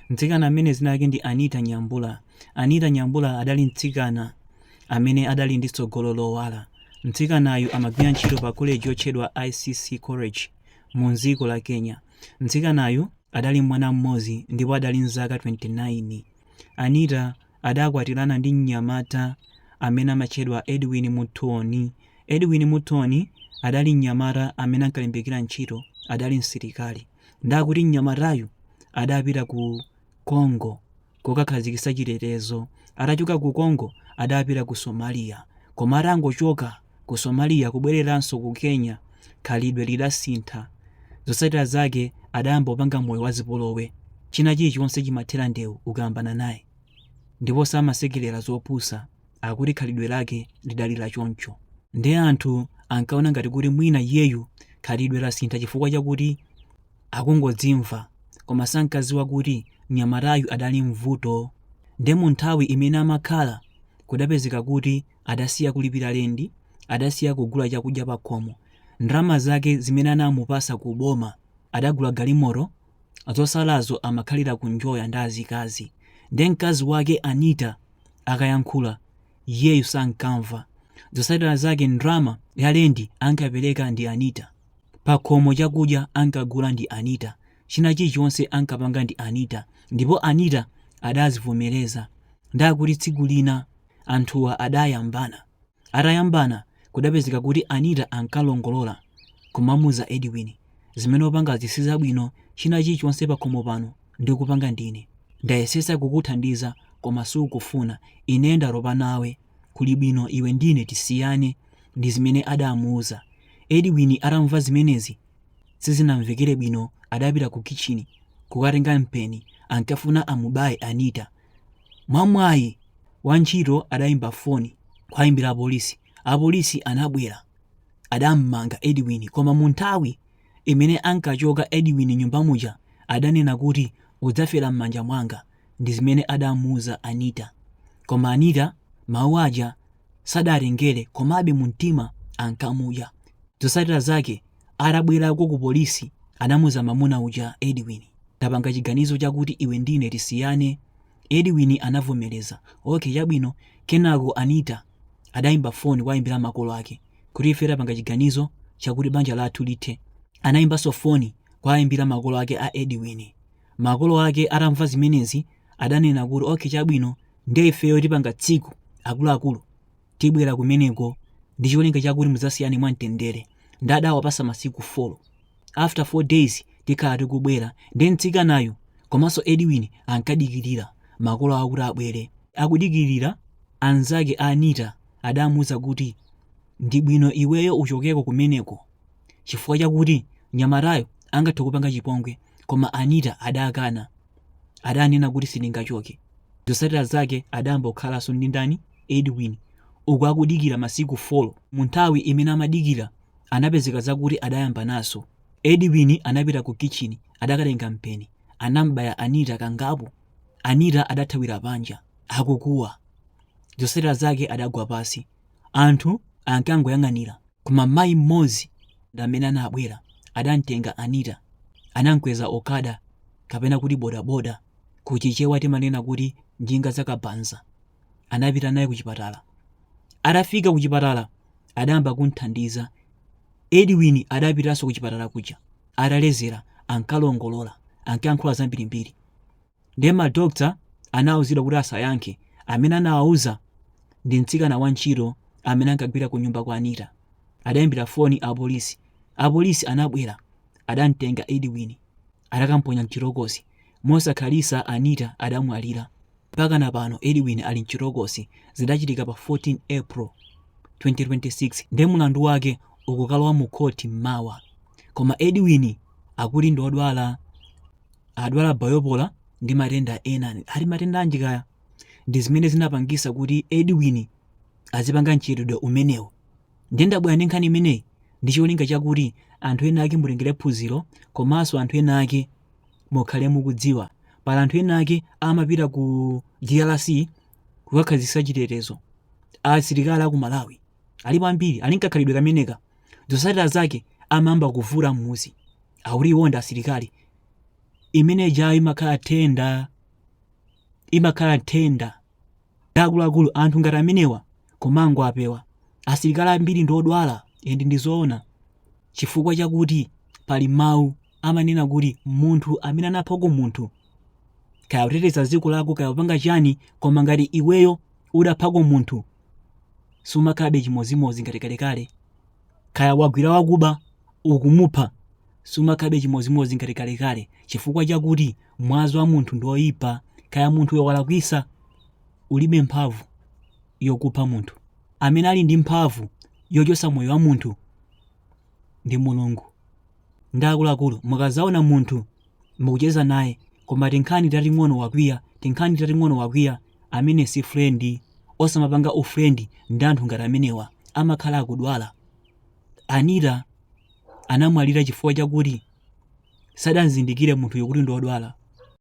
Mtsikana amene dzina lake ndi Anita Nyambura. Anita Nyambura adali mtsikana amene adali ndi tsogolo lowala. Mtsikanayu amagwira ntchito pa koleji yotchedwa ICC College mu dziko la Kenya. Mtsikanayu adali mwana mmodzi ndipo adali ndi zaka 29. Anita adakwatirana ndi mnyamata amene amatchedwa Edwin Muthoni. Edwin Muthoni adali mnyamata amene ankalimbikira ntchito, adali msilikali. Nde akuti mnyamatayu adapita ku Congo kokakhazikitsa chitetezo. Atachoka ku Congo adapita ku Somalia koma atangochoka ku Somalia kubwereranso ku Kenya khalidwe lidasintha. Zotsatira zake adayamba kupanga moyo wa zipolowe. China chilichonse chimathera ndewu ukayambana naye ndipo samasekerera zopusa. akuti khalidwe lake lidali la choncho nde anthu ankaona ngati kuti mwina iyeyu khalidwe lasintha chifukwa chakuti akungodzimva koma sankadziwa kuti mnyamatayu adali ndi vuto nde mu nthawi imene amakhala kudapezeka kuti adasiya kulipira lendi adasiya kugula chakudya pakhomo ndalama zake zimene anamupatsa ku boma adagula galimoto zotsalazo amakhalira kunjoya ndi azikazi nde mkazi wake anita akayankhula iyeyu sankamva zotsatira zake ndalama ya lendi ankapereka ndi anita pakhomo chakudya ankagula ndi anita china chilichonse ankapanga ndi anita ndipo anita adazivomereza nde akuti tsiku lina anthuwa adayambana Atayambana, kudapezeka kuti Anita ankalongolola kumamuuza Edwin zimene ukupangazi sizabwino china chilichonse pakhomo pano ndikupanga ndine. Ndayesetsa kukuthandiza koma sukufuna. Ine ndatopa nawe. Kuli bwino iwe ndine tisiyane, ndizimene adamuuza. Edwin atamva zimenezi sizinamvekere bwino adapita kukitchini kukatenga mpeni ankafuna amubaye Anita. Mwamwayi, wantchito adaimba foni kuwaimbira apolisi. Apolisi anabwera. Adammanga Edwin koma munthawi imene ankachoka Edwin mnyumba muja adanena kuti udzafera mmanja mwanga ndizimene adamuuza Anita. Koma Anita mawu aja sadawatengere komabe mumtima ankamudya. Zotsatira zake Atabwerako ku polisi anamuuza mamuna uja Edwin, tapanga chiganizo chakuti iwe ndine tisiyane Edwin anavomereza, okay chabwino kenako Anita adayimba phone kuwayimbira makolo ake kuti ife tapanga chiganizo chakuti banja lathu lithe anayimbanso phone kuwayimbira makolo ake a Edwin makolo ake atamva zimenezi adanena kuti okay chabwino nde ifeyo tipanga tsiku akuluakulu tibwera kumeneko ndi cholinga chakuti mudzasiyane mwamtendere nde adawapasa masiku 4 after 4 days tikhala tikubwera ndi mtsikanayu komanso edwin ankadikirira makolo awo kuti abwere akudikirira anzake a anita adamuuza kuti ndi bwino iweyo uchokeko kumeneko chifukwa chakuti mnyamatayo angathe kupanga chipongwe koma anita adakana adanena kuti sindingachoke. Zotsatira zake adayamba kukhalanso ndi ndani? Edwin, uku akudikira masiku folo. Munthawi imene amadikira anapezeka zakuti adayambanaso. Edwin anapita ku kitchini adakatenga mpeni anam'baya Anita kangapo. Anita adathawira panja akukuwa. Zotsatira zake adagwa pansi. Anthu ankangoyang'anira koma mayi mmodzi ndi amene anabwera. Adamtenga Anita, anamkweza Okada kapena kuti bodaboda, ku Chichewa timanena kuti njinga za kabaza. Anapita naye kuchipatala. Atafika kuchipatala adayamba kumthandiza. Edwin adapitanso kuchipatala kuja. Atalezera ankalongolola, ankayankhula zambirimbiri. Ndiye ma doctor anauzidwa kuti asayankhe. Amene anawauza ndi mtsikana wantchito amene ankagwira kunyumba kwa Anita. Adaimbira foni apolisi. Apolisi anabwera. Adamtenga Edwin. Adakamponya m'chitokosi. Mosakhalitsa Anita adamwalira. Mpakana pano Edwin ali m'chitokosi. Zidachitika pa 14 April, 2026 nde mlandu wake ukukalowa mukhoti m'mawa. Koma Edwin akuti ndi odwala. adwala bipolar ndi matenda ena ati matenda anji kaya ndi zimene zinapangisa kuti edwin azipanga mchitidwe umenewu ndiye ndabwera ndi nkhani imeneyi ndi cholinga chakuti anthu ena ake mutengere phunziro komanso anthu ena ake mukhale mukudziwa pali anthu ena ake amapita ku drc kukakhazikisa chitetezo asilikali aku malawi alipo ambiri ali nkakhalidwe kameneka zosatira zake amayamba kuvuta mmuzi akuti iwo ndi asilikali imene ijayo imakhala nthenda imakhala nthenda akuluakulu anthu ngati amenewa komango apewa asilikali ambiri ndi odwala and ndizoona chifukwa chakuti pali mawu amanena kuti munthu amene anaphako munthu kaya kuteteza dziko lako kaya kupanga chani koma ngati iweyo udaphako munthu sumakhalabe chimodzimodzi ngati kalekale kaya wagwira wakuba ukumupha sumakhalabe chimodzimodzi ngati kalekale chifukwa chakuti mwazi wa munthu ndi oyipa kaya munthuyo walakwisa ulibe mphamvu yokupha munthu amene ali ndi mphamvu yochosa moyo wa munthu ndi mulungu nde akuluakulu mukazaona munthu mukucheza naye koma tinkhani tating'ono wakwiya tinkhani tating'ono wakwiya amene si friend osamapanga ufriend ndi anthu ngati amenewa amakhala akudwala Anita anamwalira chifukwa chakuti sadamzindikire munthuyo kuti ndi wodwala